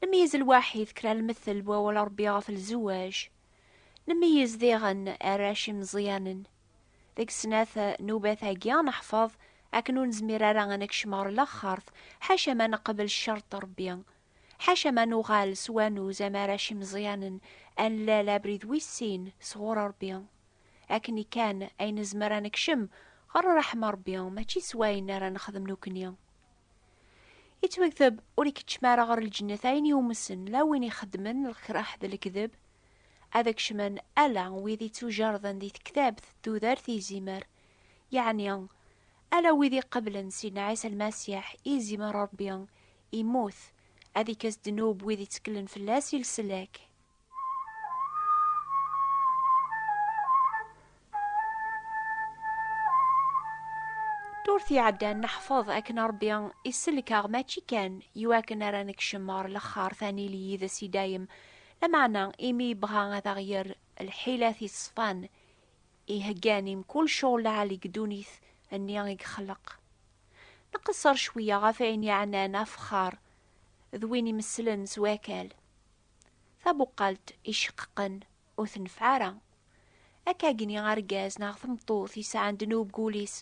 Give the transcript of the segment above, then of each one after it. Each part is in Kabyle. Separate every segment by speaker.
Speaker 1: Nemeyyez lwaḥid kra n lmettel n wawal Ṛebbi ɣef lzewwaj. Nemeyyez diɣen arrac imeẓyanen. Deg snat n ubat-agi ad neḥfeḍ akken ur nezmir ara ad nekcem ɣer laxert ḥaca ma neqbel ccerṭ n Ṛebbi. Ḥaca ma nuɣal s wanuz am arrac imeẓyanen, ad nlal abrid wis sin sɣur Ṛebbi. Akken ikkan ay nezmer ad nekcem ɣer ṛṛeḥma n Ṛebbi, mačči s wayen ara nexdem nekkni. Yettwakteb ur ikeččem ara ɣer lǧennet ayen yumsen la win ixeddmen lkraḥ d lekdeb, ad kecmen ala wid ittujerden di tektabt d tudert izimer, yeɛni ala wid iqeblen Sidna Ɛisa Lmasiḥ i izimer Rebbi, immut, ad ikkes ddnub wid itteklen fell-as i leslak. Ddurt iɛeddan neḥfeḍ akken Ṛebbi isellek-aɣ mačči kan i wakken ara nekcem ɣer lexxart ad nili yid-s i dayem, lameɛna imi yebɣa ad aɣ-yerr lḥila tiṣefan iheggan i mkul ccɣel lɛali deg ddunit-nni i yexleq. Nqesser cwiya ɣef ayen yeɛnan afexxar d win imesslen s wakal. Tabuqalt iceqqeqen ur tenfeɛ ara. Akka agni argaz neɣ tmeṭṭut yesɛan ddnub deg wul-is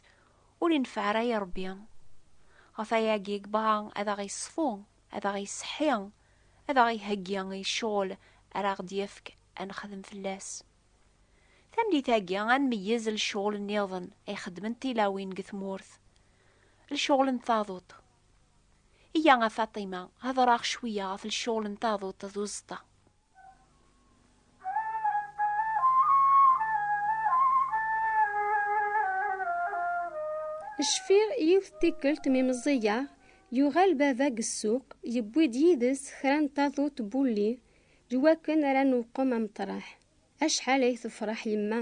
Speaker 1: ur inefeɛ ara i Rebbi. Ɣef wayagi yebɣa ad aɣ-iṣfu, ad aɣ-iseḥḥi, ad aɣ-iheggi i ccɣel ara aɣ-d-yefk ad nexdem fell-as. Tamlit-agi ad nmeyyez lecɣel nniḍen ay xeddment tilawin deg tmurt, lecɣel n taduṭ. Iyya a Faṭima, hedreɣ cwiya ɣef lecɣel n taduṭ d uẓeṭṭa.
Speaker 2: Cfiɣ yiwet tikkelt mi meẓẓiyeɣ, yuɣal baba deg ssuq, yewwi-d yid-s kra n taduṭ n wulli, d wakken ara newqem ameṭreḥ. Acḥal ay tefreḥ yemma,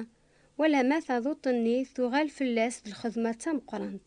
Speaker 2: wala ma taduṭ-nni tuɣal fell-as d lxedma d tameqrant.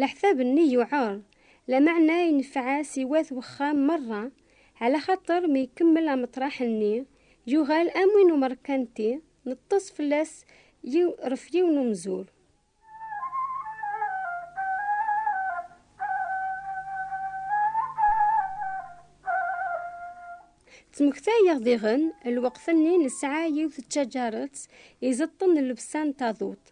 Speaker 2: Leḥsab-nni yuɛer, lameɛna ineffeɛ-as i wat wexxam merra, ɛla xaṭer mi ikemmel ameṭraḥ-nni, yuɣal am win umerkanti, neṭṭes fell-as yiw ref yiwen umzur. Ttmektayeɣ diɣen, lweqt-nni nesɛa yiwet tcaǧaret izeṭṭen llebsa n taduṭ,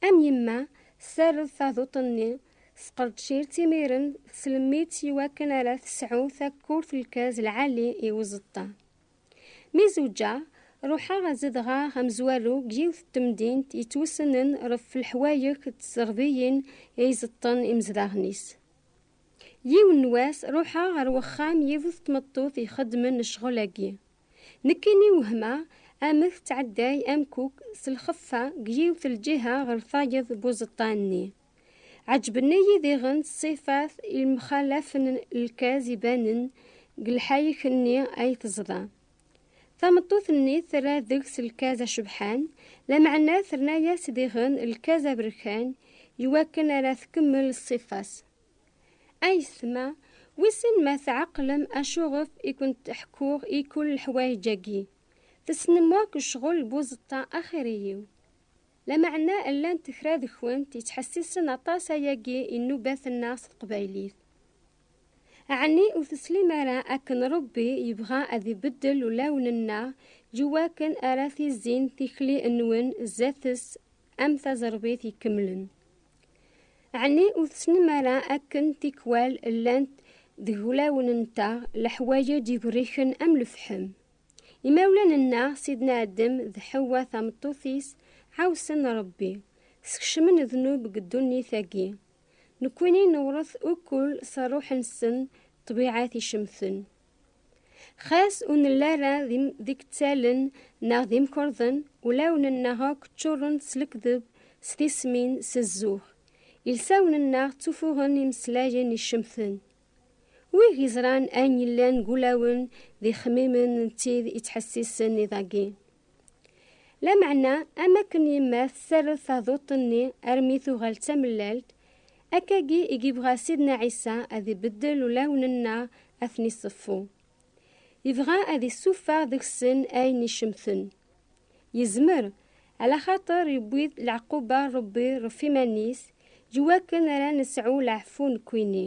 Speaker 2: Am yemma, tserred taduṭ-nni, tesqerdcir-tt imiren, teslemmidt i wakken ara tesɛu takurt lkaz lɛali i uẓeṭṭa. Mi zewǧeɣ, ruḥeɣ ad zedɣeɣ amezwaru deg yiwet n temdint yettwessnen ɣef leḥwayek d tserdiyin i iẓeṭṭen imezdaɣen-is. Yiwen n wass, ruḥeɣ ɣer wexxam yiwet n tmeṭṭut ixeddmen ccɣel-agi. Nekkini wehma amek tɛedday amkuk s lxeffa deg yiwet lǧiha ɣer tayeḍ n uẓeṭṭa-nni. Ɛeǧben-iyi diɣen ṣṣifat yemxalafen n lkaz ibanen deg lḥayek-nni ay teẓḍa. Tameṭṭut-nni terra deg-s lkaz acebḥan, lameɛna terna-as diɣen lkaz aberkan iwakken ara tkemmel ṣṣifa-s. Ayetma, wissen ma tɛeqlem acuɣef i kent-ḥkuɣ i kull leḥwayeǧ-agi? Tessnem wakk ccɣel n buẓeṭṭa axir-iyi-w. Lameɛna llant kra deg-kent yettḥessisen aṭas ayagi i nnubat-nneɣ s teqbaylit. Ɛni ur teslim ara akken Ṛebbi yebɣa ad ibeddel ulawen-nneɣ i wakken ara tizzin tikli-nwen zdat-s am taẓerbit ikemlen. Ɛni ur tessnem ara akken tikwal llant deg wulawen-nteɣ leḥwaj d igerriken am lefḥem? Imawlan-nneɣ Sidna Adem d Ḥewwa tameṭṭut-is ɛawsen Ṛebbi, skecmen ddnub deg ddunit-agi. Nekkini newṛet ukkul s ṛṛuḥ-nsen ṭṭbiɛa ticemten. Xas ur nelli ara d ikettalen neɣ d imkerḍen, ulawen-nneɣ akk ččuren s lekdeb, s tismin, s zzux. Ilsawen-nneɣ ttufuɣen imeslayen icemten. Wi geẓran ayen yellan deg ulawen d ixemmimen d tid ittḥessisen iḍ-agi. Lameɛna, am akken yemma tessared taduṭ-nni armi tuɣal d tamellalt, akkagi i yebɣa Sidna Ɛisa ad ibeddel ulawen-nneɣ ad ten-iṣeffu. Yebɣa ad issufeɣ deg-sen ayen icemten. Yezmer, alaxaṭer yewwi-d leɛquba n Rebbi ɣef iman-is, iwakken ara nesɛu leɛfu nekkini.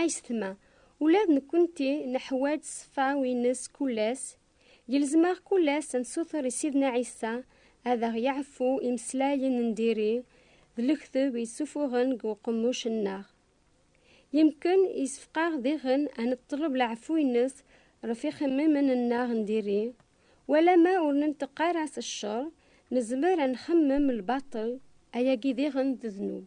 Speaker 2: Ayetma, ula d nekkenti neḥwaǧ ṣṣfa-w-ines kul ass, yelzem-aɣ kul ass ad nsuter i Sidna Ɛisa ad aɣ-yeɛfu imeslayen n diri d lekteb i yessufuɣen deg uqemmuc-nneɣ. Yemken yessefqaɣ diɣen ad neṭṭleb leɛfu-ines ɣef ixemmimen-nneɣ n diri, walama ur nenṭeq ara s ccer, nezmer ad nxemmem lbaṭel, ayagi diɣen d ddnub.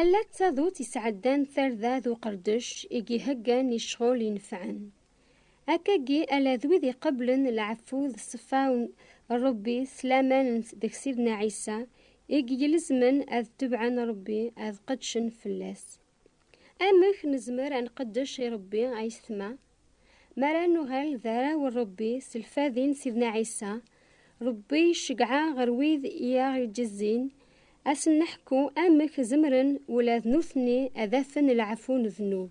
Speaker 2: Ala d tadutt isɛeddan tarda d uqerdec i yheggan i ccɣel inefɛen. Akkagi ala d wid iqeblen lɛeffu d ṣṣeffa n Ṛebbi s laman n deg Sidna Ɛisa i yilezmen ad tebɛen Ṛebbi ad qedcen fell-as. Amek nezmer ad nqeddec i Ṛebbi ayetma? Mi ara nuɣal d arraw n Ṛebbi s lfadi n Sidna Ɛisa, Ṛebbi iceggeɛ ɣer wid i aɣ-iǧezzin, ad sen-neḥku amek zemren ula d nutni ad afen leɛfu n ddnub.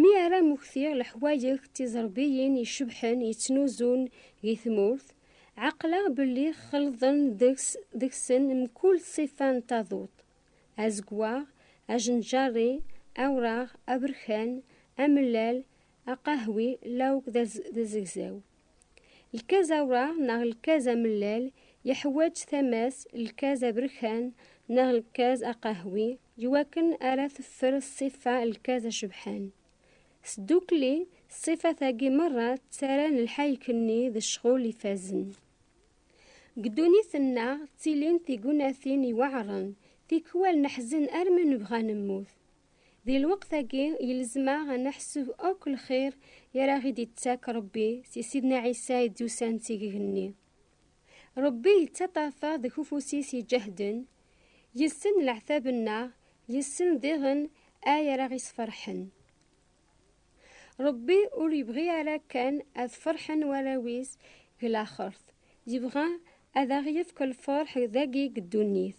Speaker 3: Mi ara
Speaker 2: mmektiɣ leḥwayeǧ tiẓerbiyin icebḥen yettnuzun di tmurt, ɛeqleɣ belli xelḍen deg-sen mkul ṣṣifa n taduṭ, azeggaɣ, ajenǧarri, awraɣ, aberkan, amellal, aqahwi lawk d azegzaw. Lkaz awraɣ neɣ lkaz amellal yeḥwaǧ tama-s lkaz aberkan neɣ lkaz aqahwi i wakken ara teffer ṣṣifa lkaz acebḥan. Sdukli, ṣṣifat-agi merra ttarran lḥayek-nni d ccɣel ifazen. Deg ddunit-nneɣ ttilin tignatin iweɛren, tikwal neḥzen armi nebɣa nemmut. Di lweqt-agi, yelzem-aɣ ad neḥseb akk lxir i ara ɣ-id-ittak Rebbi si Sidna Ɛisa i d-yusan d tigegnni. Rebbi yettaṭṭafa deg ufus-is iǧehden, yessen leɛtab-nneɣ, yessen diɣen ay ara ɣ-isferḥen. Rebbi ur yebɣi ara kan ad ferḥen warraw-is deg laxert, yebɣa ad aɣ-yefk lferḥ dagi deg ddunit.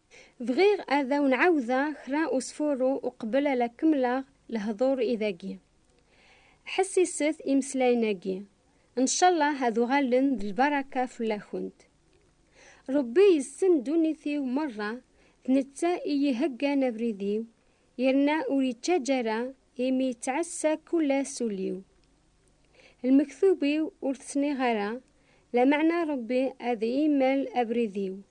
Speaker 2: Bɣiɣ ad awen-ɛawdeɣ kra usfuru uqbel ala kemmleɣ lehdur i dagi. Ḥessiset imeslayen-agi, ncallah ad uɣalen d lbaraka fell-akent. Rebbi yessen ddunit-iw merra, d netta i yi-heggan abrid-iw, yerna ur yettaǧǧa ara imi yettɛassa kull ass ul-iw. Lmektub-iw ur t-sniɣ ara, lameɛna Rebbi ad iyi-immal abrid-iw.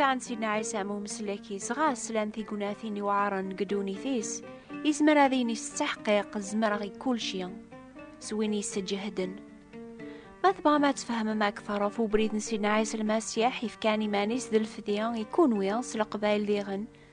Speaker 1: sɛan Sidna Ɛisa am umeslek-is ɣer slan tignatin yuɛren deg ddunit-is, izmer ad yini s ttaḥqiq zemreɣ i kulci, s win yesseǧehden. Ma tebɣam ad tfehmem akteṛ ɣef ubrid n Sidna Ɛisa Lmasiḥ, yefkan iman-is d lfedya i kunwi s leqbayel diɣen,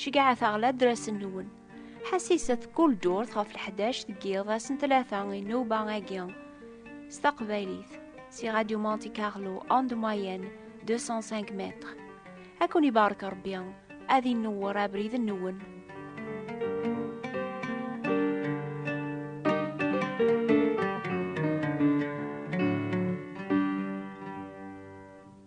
Speaker 1: Ceggɛet aɣladr asen-nwen. Ḥassiset kul durt ɣef leḥdac deg yiḍ ass n tlata i nnuba agi s taqbaylit si Radio Monte Carlo onde moyenne 205 mètres. Ad kun ibarek Rebbi, ad inewwer abrid-nwen.